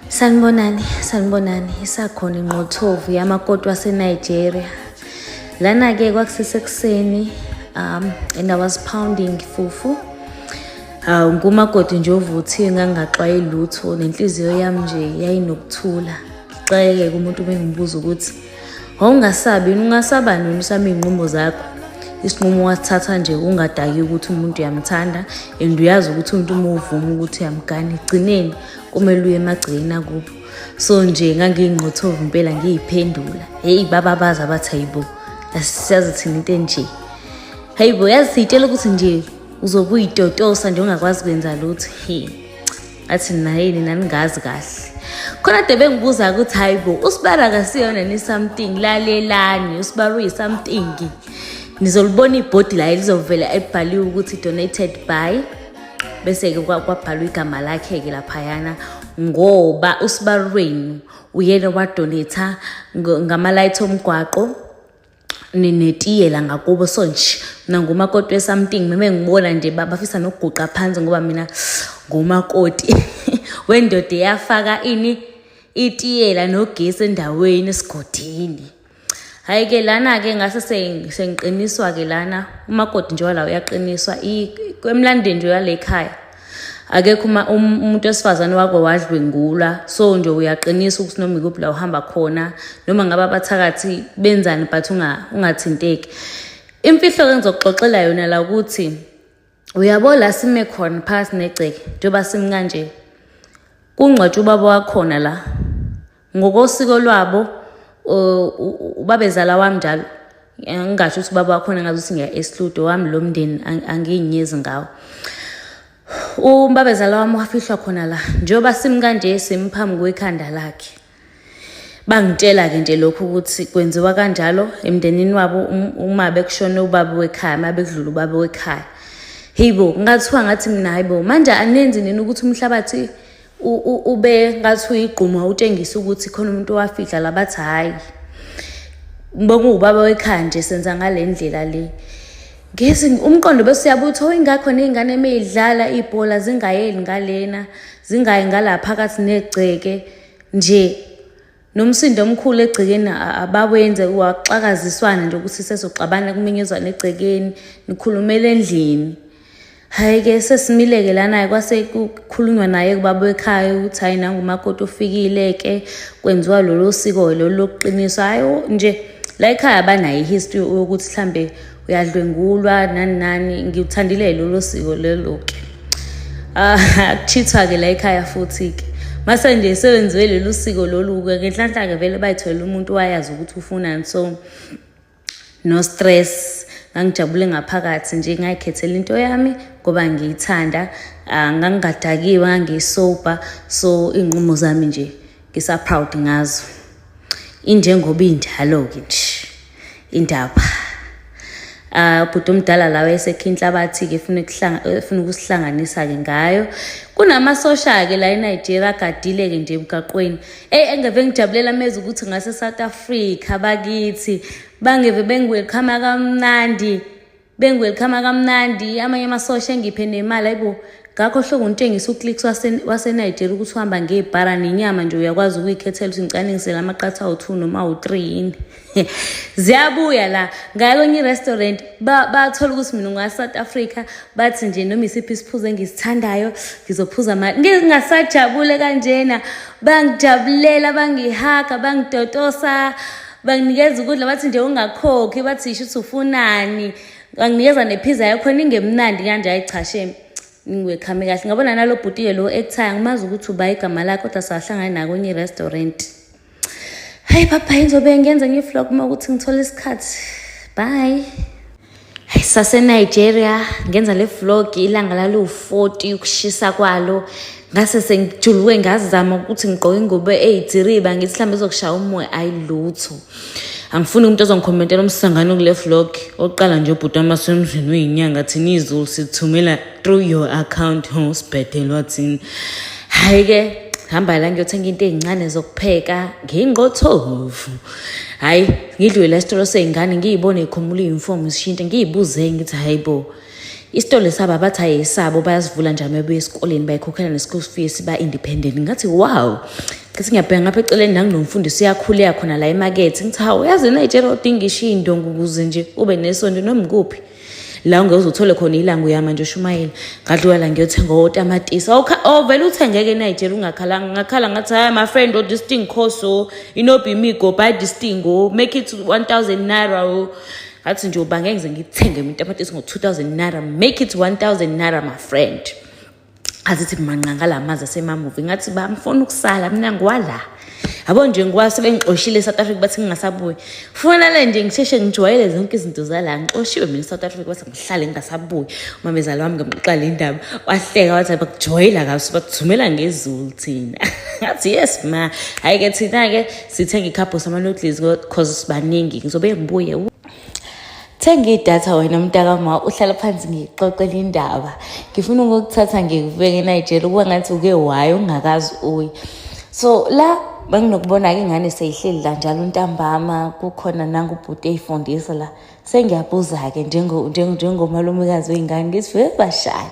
Sanibonani, sanibonani, isakhona inqothovu yamakoti waseNigeria. Lana-ke kwakusesekuseni um and I was pounding fufu. Hawu ngumakoti nje ovuthiwe ngangingaxwayi lutho nenhliziyo yami nje yayinokuthula. Ngixakeke kumuntu bengibuza ukuthi wawungasabi yini ungasaba nini usaba iy'nqumo zakho isinqumo wasithatha nje ungadaki ukuthi umuntu uyamthanda and uyazi ukuthi umuntu uma uvuma ukuthi uyamgana egcineni kumele uye emagcekeni akubo so nje ngangiyingqothovu impela ngiyiphendula heyi baba bazi abathi hayibo asisazi thina into enje hayibo yazi siyitshela ukuthi nje uzokuyitotosa nje ungakwazi kwenza lutho he athi nayini naningazi kahle khona de bengibuza ukuthi hayi bo usibara akasiyona ni something lalelani usibara uyi-something nizolibona ibhodi layo lizovela elibhaliwe ukuthi donated by bese-ke kwabhalwa igama lakhe-ke laphayana ngoba usibarwenu uyena wadonetha ngama-light omgwaqo ninetiyela ngakubo so nje mina ngumakoti wesamting meme ngibona nje bafisa nokuguqa phansi ngoba mina ngumakoti wendoda eyafaka ini itiyela nogesi endaweni esigodini hayi ke lana ke ngase sengiqiniswa ke lana umakoti nje wala uyaqiniswa emlandeni nje yale ekhaya akekho uma um, umuntu wesifazane wako wadlwengula so nje uyaqinisa ukuthi noma ikuphi la uhamba khona noma ngabe abathakathi benzani but ungathinteki imfihlo ke ngizokuxoxela yona la ukuthi uyabo la sime khona phakathi negceke njengoba simi kanje kungcwatshwa ubaba wakhona la ngokosiko lwabo ubabezala wami njalo ngingasho ukuthi ubaba wakhona ngazi ukuthi ngiya esludo wami lo mndeni angiyinyezi ngawo umbabezala wami wafihlwa khona la njengoba simi kanje simphambi kwekhanda lakhe bangitshela-ke nje lokhu ukuthi kwenziwa kanjalo emndenini wabo um, uma bekushone ubaba wekhaya uma bekudlula ubaba wekhaya heyi bo ngathiwa ngathi mina hayi bo manje anenzi nini ukuthi umhlabathi ube ngathi uyigquma utshengisa ukuthi khona umuntu owafihla labathi hhayi bokuwubaba wekhaya nje senza ngale ndlela le ngezi umqondo bese uyabuthi oyingakho ney'ngane uma idlala ibhola zingayeli ngalena zingayi ngala phakathi negceke nje nomsindo omkhulu egcekeni abawenze waxakaziswana nje ukuthi sezoxabana kuminyuzwana egcekeni nikhulumela endlini hhayi ke sesimile-ke lana-ke kwase kukhulunywa naye kubaba ekhaya ukuthi hhayi nangumakoti ofikile-ke kwenziwa lolo siko-ke lolu lokuqiniswa hhayi nje la ekhaya banayo i-history yokuthi mhlambe uyadlwengulwa nani nani ngiwuthandile lolo siko lelo ke ah, akuchithwa ke la ekhaya futhi ke mase nje sewenziwe lolu siko lolu ke ngenhlanhla ke vele bayitholela umuntu wayazi ukuthi ufunani so no stress ngangijabule ngaphakathi nje ngayikhethela into yami ngoba ngiyithanda ah, ngangingadakiwe ngangiyisober so iy'nqumo zami nje ngisa proud ngazo injengoba injalo ke nje indaba Uh, bhuti omdala lawa esekhe inhlabathi-ke funa ukusihlanganisa-ke ngayo kunamasosha-ke la enigeria agadile-ke nje emgaqweni eyi engeve ngijabulela meza ukuthi ngase-south africa bakithi bangeve bengiwelkhama kamnandi Bengiwelkhama kamnandi amanye amasosha engiphe nemali ayibo ngakho hlobo ngitshengisa uclicks wasenigeria ukuthi uhamba ngebhara nenyama nje uyakwazi ukuyikhethela ukuthi ngicaningisele amaqatha awu-two noma awu-three yini ziyabuya la ngaya kwenye i-restaurant bathola ukuthi mina ngwa-south africa bathi nje noma isiphi isiphuzo engisithandayo ngizophuza mali ngingasajabule kanjena bangijabulela bangihaga bangitotosa banginikeza ukudla bathi nje ungakhokhi bathi yisho ukuthi ufunani banginikeza nephiza yakhona ingemnandi kanje hayi cha shame ngiwekhame kahle ngabona nalo bhuti-ke lo ekuthaya ngimazi ukuthi uba igama lakhe kodwa sahlangane nakonye i-restaurant hayi baba yinzobe ngenza nge-vlog uma ukuthi ngithole isikhathi bye saseNigeria ngenza le vlog ilanga laliwu-40 ukushisa kwalo ngase sengijuluke ngazama ukuthi ngigqoke ingubo eyidiriba ngithi mhlawumbe izokushaya umoya ayi lutho angifuni umuntu ozongikhomentela umsangano kule vlog oqala nje ubhuti wami wasemzini uyinyanga thina izulu sithumela through your account ho sibhedelwa thina hhayi-ke hamba la ngiyothenga into ey'ncane zokupheka ngingqothovu hhayi ngidlule esitolo sey'ngane ngiyibone ikhumula iyunifomu zishintshe ngiyibuze ngithi hayi bo isitolo esaba bathi hayi esabo bayasivula njalo mebuya esikoleni bayikhokhela ne-school fees ba-independent ngathi wow ngathi ngiyabheka ngapha eceleni nanginomfundisi uyakhule yakhona la emakethe ngithi hawu yazi nayitshela odinga ishiyi indongo ukuze nje ube nesonto noma ikuphi la ungeze uthole khona ilanga uyama nje ushumayela ngadlula la ngiyothenga otamatisi ovele oh, uthengeke enayijela ungakhalanga ngakhala ngathi hayi my friend odisting oh, course o oh, inobimigo by disting o make it 1000 naira o ngathi nje uba ngeke ngize ngithenge imitamatisi ngo-2000 naira make it 1000 naira my friend azithi manqanga la mazi asemamuvi ngathi ba ngifuna ukusala mina ngiwala yabo nje ngiwa sebengixoshile eSouth Africa bathi ngingasabuyi kufanele nje ngisheshe ngijwayele zonke izinto zala ngixoshiwe mina eSouth Africa bathi ngihlale ngingasabuyi umamezala wami ngamqala indaba wahleka wathi bakujwayela kaso bakuthumela ngezulu thina ngathi yes ma hayi ke thina ke sithenga ikhapho sama noodles because sibaningi ngizobe ngibuye thenga idatha wena mntaka ma uhlala phansi ngiyixoxela indaba ngifuna ukukuthatha ngikubeke enayijela ukuba ngathi uke wayo ungakazi uyi so la benginokubona-ke ingane seyihleli la njalo ntambama kukhona nangubhuti eyifundisa la sengiyabuza-ke njengomalumekazi wey'ngane ngithi vebashaya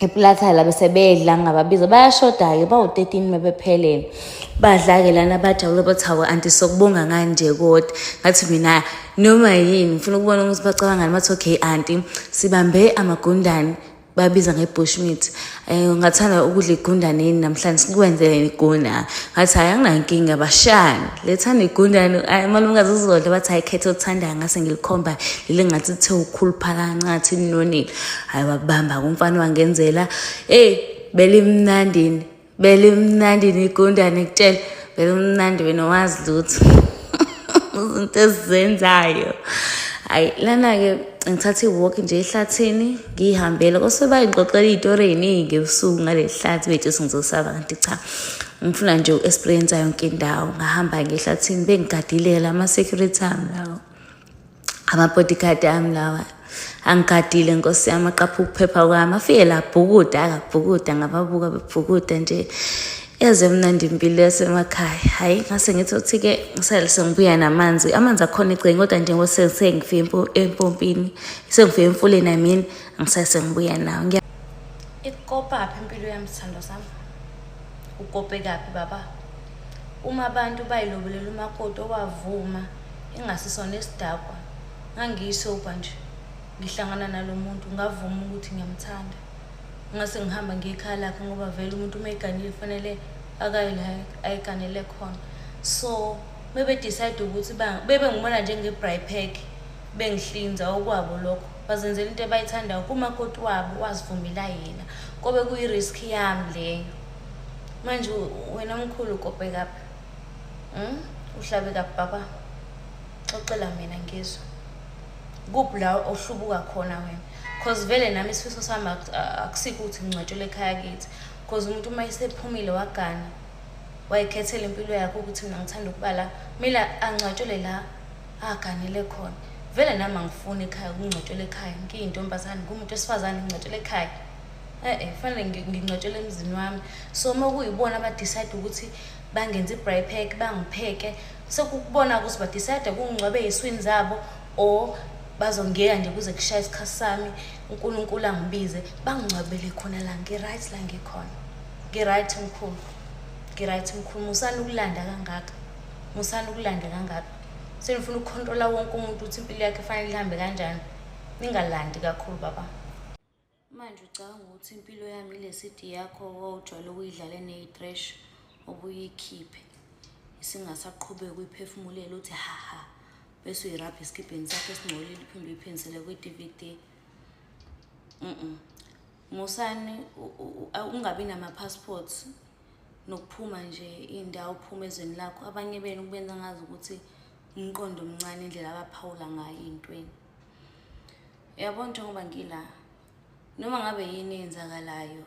eplatha la bese bedla ngababiza bayashoda-ke bawu-13 mebephelele badla-ke lana bajabule bathi hawe anti sokubonga nganje kodwa ngathi mina noma yini ngifuna ukubona ukuthi bacabangani bathi okay anti sibambe amagundane babiza nge-bush meat um eh, ngathanda ukudla igundane yini namhlanje sikwenzeleni igunda ngathi hhayi anginankinga bashani lethanda igundane malumkazi uzodla bathi hhayi khetha othandayo ngase ngilikhomba leli ngathi lithe ukhuluphala ncathi linonile hayi wakubamba kumfana wangenzela eyi belimnandini belimnandini igundane kutshela belimnandi wena wazi lutho izinto ezizenzayo hayi lana-ke ngithathe i-walk nje ehlathini ngiyihambele kosoba ngixoxela iy'tori ey'ningi ebusuku ngale hlathi bethu sengizosaba kanti cha ngifuna nje uku-experiensa yonke indawo ngahamba ngehlathini bengigadilele ama-security ami lawo amabodyguard ami lawa angigadile nkosi yami aqapha ukuphepha kwami afike labhukuda akabhukuda ngababuka bebhukuda nje yaze mnandi impilo yasemakhaya hhayi ngase ngithi othi-ke ngisale sengibuya namanzi amanzi akhona egceni kodwa njengoba sengifike empompini sengifike emfuleni amini angisale sengibuya nawo ikopaphi impilo yami sithandwa sami ukopekaphi baba uma abantu bayilobelela umakoti owavuma Engasisona isidakwa, ngangiyisobha nje. Ngihlangana nalo muntu, ngavuma ukuthi ngiyamthanda. Ngase ngihamba ngiye ekhaya lakhe ngoba vele umuntu uma eganile kufanele akaye la ayiganele khona. So, uma bedecide ukuthi bebe ngibona njenge-brypack, bengihlinza okwabo lokho. Bazenzela into ebayithandayo kumakoti wabo, wazivumela yena. Kobe kuyi-risk yami leyo. Manje wena mkhulu ukopekaphi? Mm, uhlabe kababa. Xoxela mina ngizwe. Kuphi la ohlubuka khona wena? Cause vele nami isifiso sami akusiko ukuthi ngingcwatshele ekhaya kithi. Cause umuntu uma esephumile wagana wayikhethela impilo yakhe ukuthi mina ngithanda ukuba la. Mina angcwatshele la aganele khona. Vele nami angifuni ekhaya ukungcwatshela ekhaya. Ngiyintombazane, ngumuntu wesifazane ngingcwatshela ekhaya. e-e fanele ngi- ngingcwatshele emzini wami so uma kuyibona abadicide ukuthi bangenza i-bry pack bangipheke sekukubona ukuthi badicide kungingcwabe ey'swini zabo or bazongiyeka nje kuze kushaye isikhathi sami unkulunkulu angibize bangingcwabele khona la ngi-right la ngikhona ngi-right mkhulu ngi-right mkhulu musani ukulanda kangaka musani ukulanda kangaka senifuna ukukhontrola wonke umuntu ukuthi impilo yakhe fanele ihambe kanjani ningalandi kakhulu baba Manje ucabanga ukuthi impilo yami ile CD yakho owawujwayele ukuyidlala eneyi-trash obuyikhiphe isingasaqhubeki uyiphefumulela uthi haha bese uyirabha esikibheni sakho esingcolile uphinde uyiphindisele kwi-dvd mm musani ungabi nama-passports nokuphuma nje iy'ndawo uphuma ezweni lakho abanye benu kubenza ngazi ukuthi umqondo omncane indlela abaphawula ngayo ey'ntweni yabo njengoba ngila noma ngabe yini eyenzakalayo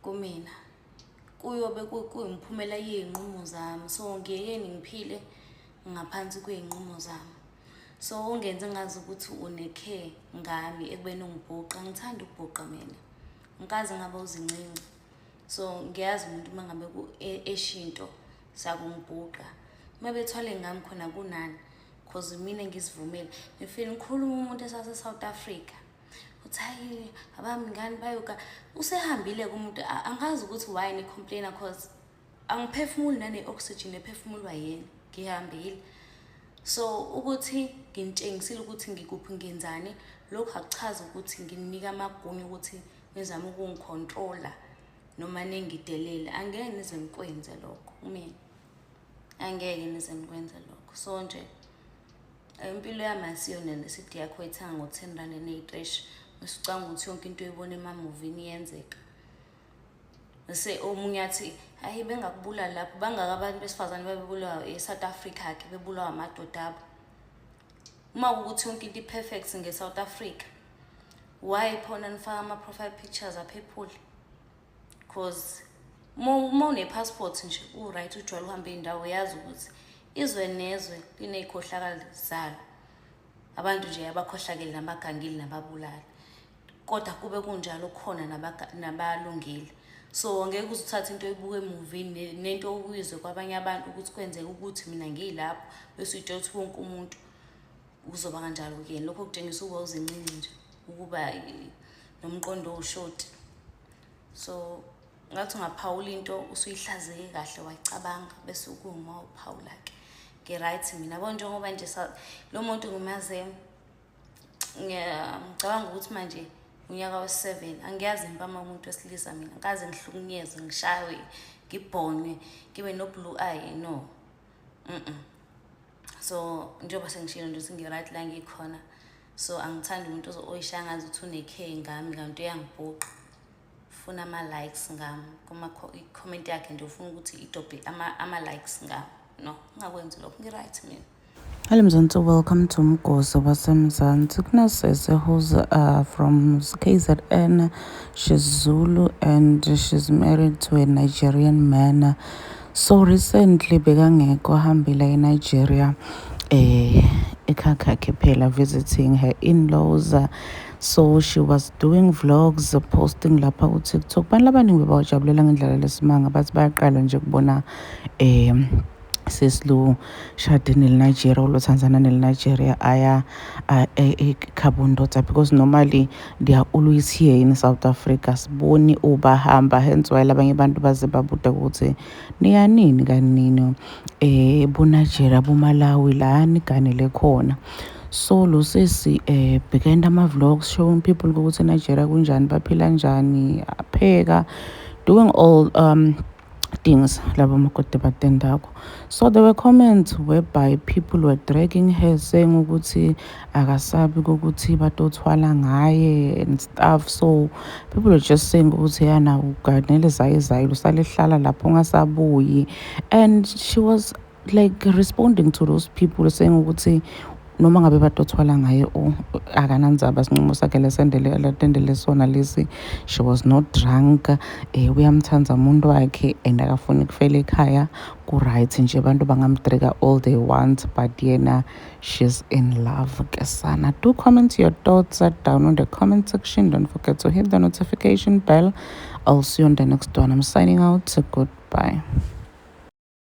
kumina kuyobe kuyimphumela yey'nqumo zami so ngiyekeni ngiphile ngaphansi kwey'nqumo zami so ungenze ngazi ukuthi unekhe ngami ekubeni ungibhuqa ngithanda ukubhuqa mina ngikaze ngaba uzincinci so ngiyazi umuntu uma ngabe e-, eshinto sakungibhuqa uma bethwale ngami khona kunani cause mina ngizivumele ngifile ngikhuluma umuntu esase-south africa uthi hayi abami ngani bayoka usehambile kumuntu angazi ukuthi why ni-complaina cause angiphefumuli nane-oxygen ephefumulwa yena ngihambile so ukuthi nginitshengisile ukuthi ngikuphi ngenzani lokhu akuchazi ukuthi nginika amagunya ukuthi nizame ukungikhontrola noma ningidelele angeke nize nikwenze lokho umina angeke nize nikwenze lokho so nje impilo yami asiyona nesidi yakho ethanga ngo-ten rand eneyi-trash usicanga ukuthi yonke into oyibona emamuvini iyenzeka se omunye athi hayi bengakubulali lapho bangaka abantu besifazane babebulawa e-south africa ke bebulawa amadoda abo uma kukuthi yonke into i-perfect nge-south africa why phona nifaka ama-profile pictures aphephule cause uma unepassport nje u-right ujwayele uhambe iy'ndawo yazi ukuthi izwe nezwe liney'khohlakali zalo abantu nje abakhohlakele nabagangile nababulali kodwa kube kunjalo khona nabalungile so ngeke uze uthathe into oyibuka emuvini nento okuyizwe kwabanye abantu ukuthi kwenzeka ukuthi mina ngiyilapho bese uyitshela ukuthi wonke umuntu kuzoba kanjalo kuyena lokho kutshengisa ukuba uzincinci nje ukuba nomqondo owushoti so ngathi ungaphawula into usuyihlazeke kahle wayicabanga bese ukuma uphawula-ke ngi-right mina bo njengoba nje lo muntu ngimaze ngicabanga ukuthi manje unyaka we-seven angiyazi impama umuntu wesilisa mina kaze ngihlukunyezwe ngishaywe ngibhonywe ngibe no-blue eye no mm, -mm. so njengoba sengishilo nje ukuthi ngi-right la ngikhona so angithandi umuntu oyishaya ngazi ukuthi unekhe ngami kanti uyangibhuqa funa ama-likes ngami i-comment yakhe nje ufuna ukuthi idobhe ama-likes ngami no ngingakwenzi lokho ngi-right mina Hello Mzansi, welcome to Mgozo waseMzansi. Kunesese who's uh, from KZN, she's Zulu and she's married to a Nigerian man. So recently bekangekho hambile eNigeria eh ekhakhakhe phela visiting her in-laws so she was doing vlogs posting lapha ku-tiktok abantu labaningi bebawajabulela ngendlela lesimanga bathi bayaqala nje kubona um sesilu shade nelinigeria ulothanda nana nelinigeria aya ekhabo ndoda because normally Dia ulu is here in South Africa siboni ubahamba hence why labanye abantu baze babude ukuthi niyanini kanini eh boNigeria boMalawi la niganele khona so lo sisi eh behind ama vlogs showing people ukuthi eNigeria kunjani baphila njani apheka doing all um things laba makoti batendako so there were comments whereby people were dragging her saying ukuthi akasabi ukuthi batothwala ngaye and stuff so people were just saying ukuthi yana uganele zaye zaye lusalehlala lapho ngasabuyi and she was like responding to those people saying ukuthi noma ngabe badothwala ngaye o akanandzaba sinqumo sakhe lesendele latendele sona lesi she was not drunk um eh, uyamthanda umuntu wakhe and akafuni kufela ekhaya ku-right nje abantu bangamtrika all they want but yena she's in love ke sana do comment your thoughts down on the comment section don't forget to hit the notification bell i'll see you on the next one i'm signing out goodbye